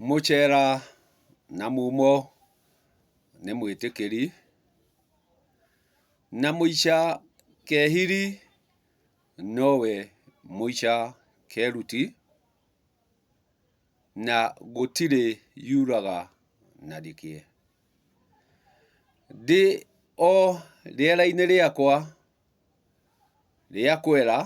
Mũchera na mumo nĩ mwĩtĩkĩri, na mũicha kehiri nowe mũicha keruti, na gũtirĩ yuraga na rĩkĩ. Ndĩ o rĩera-inĩ rĩakwa rĩa kwera.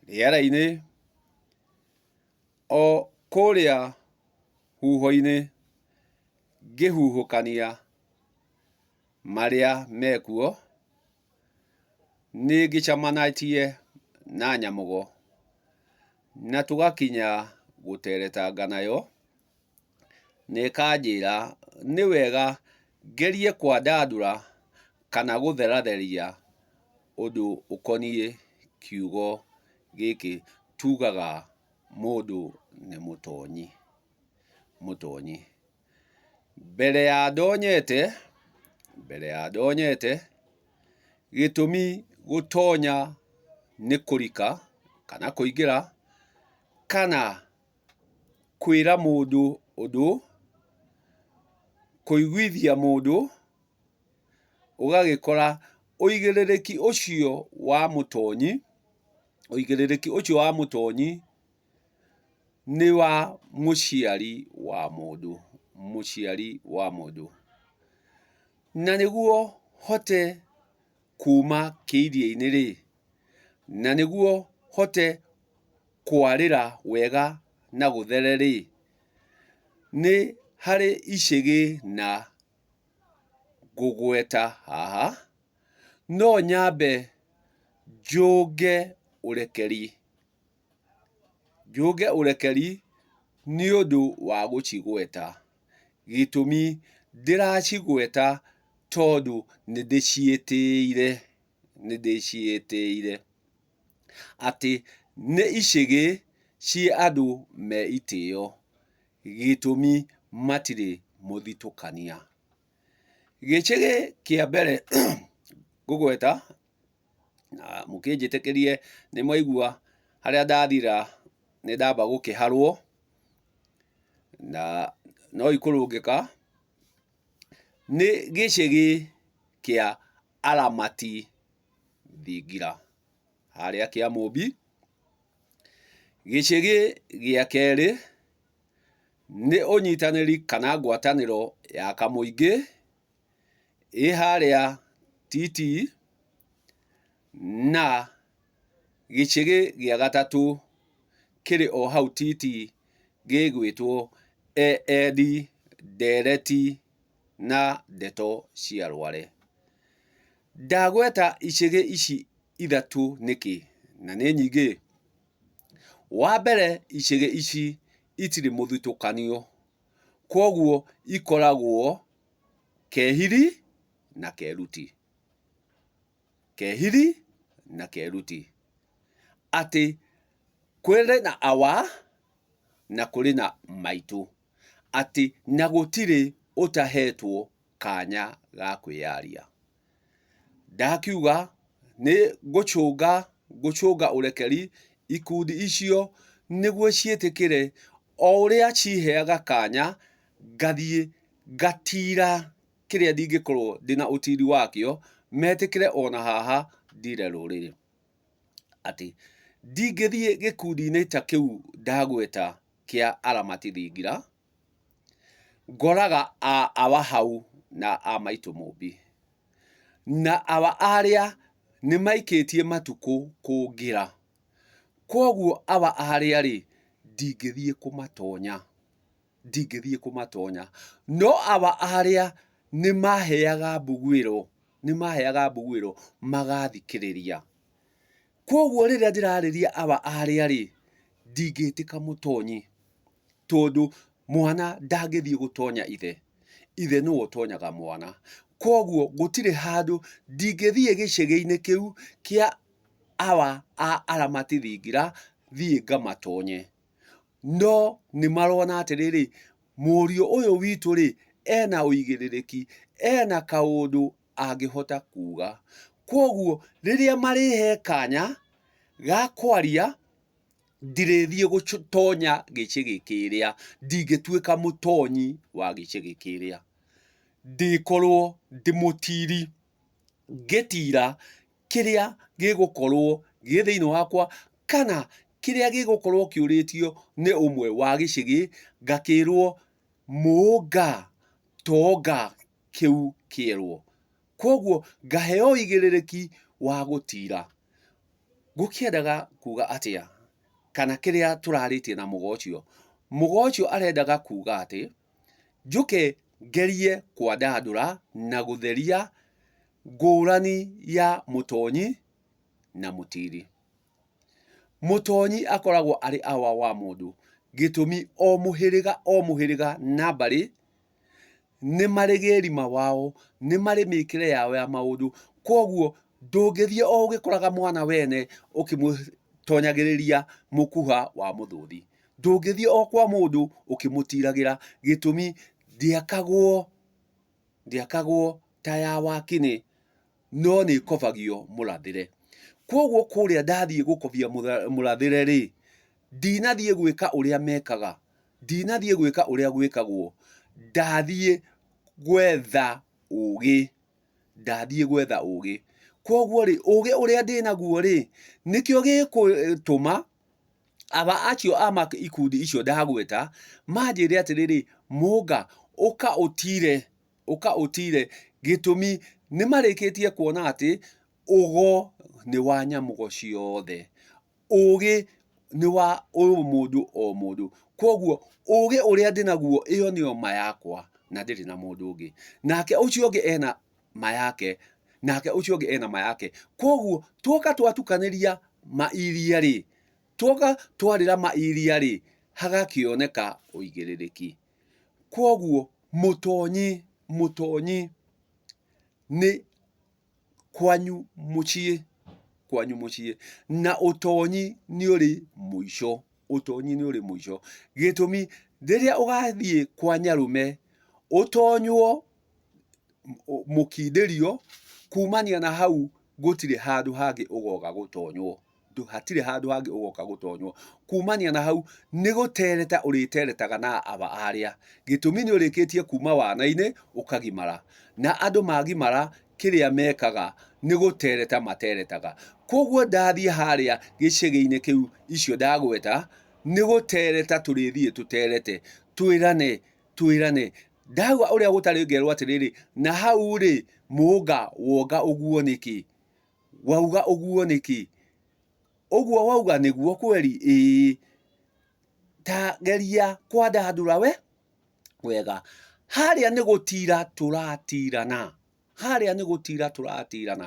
rĩera-inĩ, o kũrĩa huho-inĩ ngĩhuhũkania marĩa mekuo, nĩ ngĩcemanagie na nyamũgo na tũgakinya gũteretanga nayo na ĩkanjĩra nĩ wega ngerie kwandandũra kana gũtheratheria ũndũ ũkoniĩ kiugo gĩkĩ tugaga mũndũ nĩ mũtonyi, mũtonyi. Mbere ya ndonyete, mbere ya ndonyete, gĩtũmi gũtonya nĩ kũrika kana kũingĩra kana Kwĩra mũndũ ũndũ. Kũiguithia mũndũ ũgagĩkora ũigĩrĩrĩki ũcio wa mũtonyi, ũigĩrĩrĩki ũcio wa mũtonyi nĩ wa mũciari wa mũndũ, mũciari wa mũndũ. Na nĩguo hote... kuuma kĩiria-inĩ-rĩ, na nĩguo hote kwarĩra wega na gũthere-rĩ, nĩ harĩ icĩgĩ na ngũgweta haha, no nyambe njũnge ũrekeri. Njũnge ũrekeri nĩ ũndũ wa gũcigweta, gĩtũmi, ndĩracigweta tondũ nĩ ndĩciĩtĩĩire, nĩ ndĩciĩtĩĩire. Atĩ nĩ icĩgĩ ciĩ andũ me itĩĩo, gĩtũmi, matirĩ mũthitũkania. Gĩcĩgĩ kĩa mbere ngũgweta na mũkĩnjĩtĩkĩrie nĩ mwaigua harĩa ndathira nĩ ndamba gũkĩharwo na no ikũrũngĩka nĩ gĩcĩgĩ kĩa aramati thingira harĩa kĩa mũmbi. Gĩcĩgĩ gĩa kerĩ nĩ ũnyitanĩri kana ngwatanĩro ya kamũingĩ ĩ harĩa titii, na gĩcigĩ gĩa gatatũ kĩrĩ o hau titii gĩgwĩtwo Eereti, Ndereti na Ndeto cia Rware. Ndagweta icigĩ ici ithatũ nĩkĩ? Na nĩ nyingĩ ĩ, wa mbere icigĩ ici itirĩ mũthutũkanio. Kwoguo ikoragwo Kehili na Keluti. Kehili na Keluti. Atĩ kũrĩ na awa na kũrĩ na maitũ. Atĩ na gũtirĩ ũtahetwo kanya ga kwĩyaria. Ndakiuga, nĩ ngũcũnga, ngũcũnga ũrekeri ikundi icio nĩguo ciĩtĩkĩre, o ũrĩa ciheaga kanya ngathiĩ ngatiira kĩrĩa ndingĩkorwo ndĩ na ũtiiri wakĩo, metĩkĩre o na haha ndiire rũrĩrĩ. Atĩ, ndingĩthiĩ gĩkundi-inĩ ta kĩu ndagweta kĩa aramati thingira. Ngoraga awa hau na a maitũ Mũmbi. Na awa arĩa nĩ maikĩtie matukũ kũngĩra. Kwoguo awa arĩa rĩ, ndingĩthiĩ kũmatonya. Ndingĩthiĩ kũmatonya. No awa arĩa nĩ maheaga mbuguĩro, nĩ maheaga mbuguĩro, magathikĩrĩria. Kwoguo rĩrĩa ndĩrarĩria awa arĩa rĩ, ndingĩtĩka mũtonyi. Tondũ mwana ndangĩthiĩ gũtonya ithe, ithe nĩwe ũtonyaga mwana. Koguo gũtirĩ handũ ndingĩthiĩ gĩcegeinĩ kĩu kĩa awa a aramati thingira thiĩ ngamatonye. No nĩmarona atĩrĩrĩ, mũriũ ũyũ witũ-rĩ, ena ũigĩrĩrĩki, ena kaũndũ angĩhota kuga. Koguo rĩrĩa marĩhe kanya ga kwaria, ndirĩthiĩ gũtonya gĩcĩgĩ kĩrĩa ndingĩtuĩka mũtonyi wa gĩcĩgĩ kĩrĩa ndĩkorwo ndĩ mũtiri ngĩtira kĩrĩa gĩgũkorwo gĩ thĩinĩ wakwa kana kĩrĩa gĩgũkorwo kĩũrĩtio nĩ ũmwe wa gĩcĩgĩ ngakĩrwo mũnga tonga kĩu kĩerwo. Kwoguo ngaheo ũigĩrĩrĩki wa gũtiira. Gũkĩendaga kuuga atĩa? Kana kĩrĩa tũrarĩtie na mũgo ũcio. Mũgo ũcio arendaga kuuga atĩ, njũke ngerie kwandandũra na gũtheria ngũrani ya mũtonyi na mũtiiri. Mũtonyi akoragwo arĩ awa wa mũndũ, gĩtũmi o mũhĩrĩga o mũhĩrĩga na mbarĩ, nĩ marĩ gĩĩrima wao, nĩ marĩ mĩkĩre yao ya maũndũ, kwoguo ndũngĩthiĩ o ũgĩkoraga mwana wene ũkĩmũtonyagĩrĩria mũkuha wa mũthũũthi. Ndũngĩthiĩ o kwa mũndũ ũkĩmũtiragĩra gĩtũmi ndĩakagwo... Ndĩakagwo ta ya wakinĩ, no nĩĩkobagio mũrathĩre. Kwoguo kũrĩa ndathiĩ gũkobia mũrathĩre-rĩ, ndinathiĩ gwĩka ũrĩa mekaga, ndinathiĩ gwĩka ũrĩa gwĩkagwo, ndathiĩ gwetha ũũgĩ, ndathiĩ gwetha ũũgĩ. Kwoguo-rĩ, ũũgĩ ũrĩa ndĩ naguo-rĩ, nĩkĩo gĩgũtũma... Aba acio a ikundi icio ndagweta manjĩre atĩrĩrĩ, Mũnga, ũka ũtire, ũka ũtire, gĩtũmi nĩ marĩkĩtie kuona atĩ ũgo nĩ wa nyamũgo ciothe, ũgĩ nĩ wa o mũndũ o mũndũ. Kwoguo ũgĩ ũrĩa ndĩnaguo ĩyo nĩyo ma yakwa na ndirĩ na mũndũ ũngĩ. Nake ũcio ũngĩ ena ma yake, nake ũcio ũngĩ ena ma yake. Koguo tuoka twatukanĩria ma iria rĩ, tuoka twarĩra ma iria rĩ, hagakĩoneka ũigĩrĩrĩki. Koguo mũtonyi, mũtonyi nĩ kwanyu mũciĩ, kwanyu mũciĩ. Na ũtonyi nĩ ũrĩ mũico, ũtonyi nĩ ũrĩ mũico. Gĩtũmi, rĩrĩa ũgathiĩ kwa nyarũme, ũtonywo mũkindĩrio, kumania na hau gũtirĩ handũ hangĩ ũgoka gũtonywo, hatirĩ handũ hangĩ ũgoka gũtonywo. Kumania na hau nĩ gũtereta ũrĩteretaga na aba arĩa, gĩtũmi nĩ ũrĩkĩtie kuma wana-inĩ ũkagimara. Na andũ magimara kĩrĩa mekaga nĩ gũtereta materetaga. Kũguo ndathiĩ harĩa gĩcegĩ-inĩ kĩu icio ndagweta, nĩ gũtereta tũrĩthiĩ tũterete twĩrane twĩrane ndahua ũrĩa gũtarĩ ngerwo atĩrĩrĩ na hau rĩ mũnga wonga ũguo nĩkĩ wauga ũguo nĩkĩ ũguo wauga nĩguo kweri ĩĩ ta geria kwandandũra we wega harĩa nĩ gũtira tũratirana Harĩa nĩ gũtira tũratirana.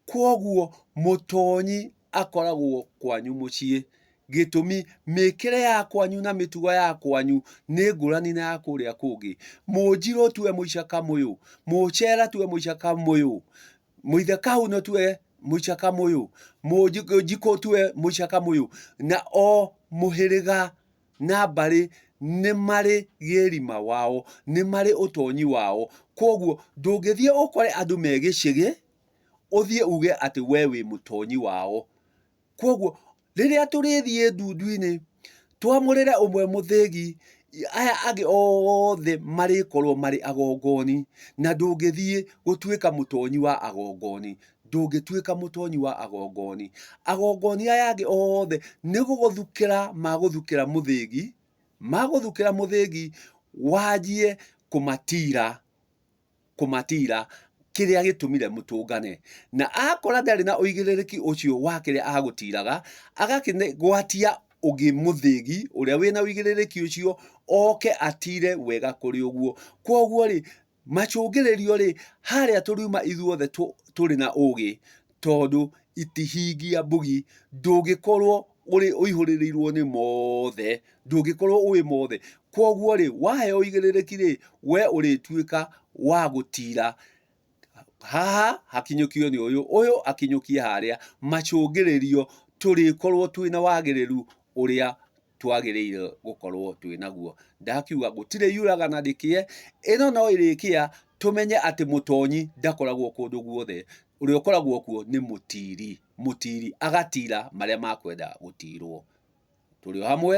Kwoguo mũtonyi akoragwo kwanyu mũciĩ. Gĩtũmi, mĩkĩre ya kwanyu na mĩtugo ya kwanyu nĩ ngũrani na ya kũrĩa kũngĩ. Mũnjirũ tu e mũicaka mũyũ, mũcera tu e mũicaka mũyũ, mũithe kahuno tu e mũicaka mũyũ, mũnjikũ tu e mũicaka mũyũ, na o mũhĩrĩga na mbarĩ nĩ marĩ gĩrima wao, nĩ marĩ ũtonyi wao. Kwoguo ndũngĩthiĩ ũkore andũ me gĩcĩgĩ, ũthiĩ uge atĩ we wĩ mũtonyi wao. Kwoguo rĩrĩa tũrĩthiĩ ndundu-inĩ, twamũrĩre ũmwe mũthĩgi, aya angĩ othe marĩkorwo marĩ agongoni, na ndũngĩthiĩ gũtuĩka mũtonyi wa agongoni. ndũngĩtuĩka mũtonyi wa agongoni. Agongoni aya angĩ othe nĩ gũgũthukĩra magũthukĩra mũthĩgi, magũthukĩra mũthĩgi wanjie kũmatira, kũmatira kĩrĩa gĩtũmire mũtũngane. Na akora ndarĩ na ũigĩrĩrĩki ũcio wa kĩrĩa agũtiraga, agakĩgwatia ũngĩ mũthĩgi ũrĩa wĩna ũigĩrĩrĩki ũcio oke atire wega kũrĩ ũguo. Kwoguo-rĩ, Macũngĩrĩrio-rĩ, harĩa tũriuma ithuothe tũrĩ na ũgĩ tondũ itihingia mbugi, ndũngĩkorwo ũrĩ ũihũrĩrĩirwo nĩ mothe, ndũngĩkorwo ũĩ mothe. Koguo-rĩ, waheo ũigĩrĩrĩki-rĩ, we ũrĩtuĩka wa gũtira, haha hakinyũkio nĩ ũyũ, ũyũ akinyũkie harĩa, macũngĩrĩrio, tũrĩkorwo twĩna wagĩrĩru ũrĩa twagĩrĩire gũkorwo twĩ naguo. Ndakiuga gũtirĩ yuraga na ndĩkĩe, ĩno no ĩrĩkĩa tũmenye atĩ mũtonyi ndakoragwo kũndũ guothe, ũrĩa ũkoragwo kuo nĩ mũtiri, mũtiri agatira marĩa makwenda gũtirwo. Tũrĩ o hamwe.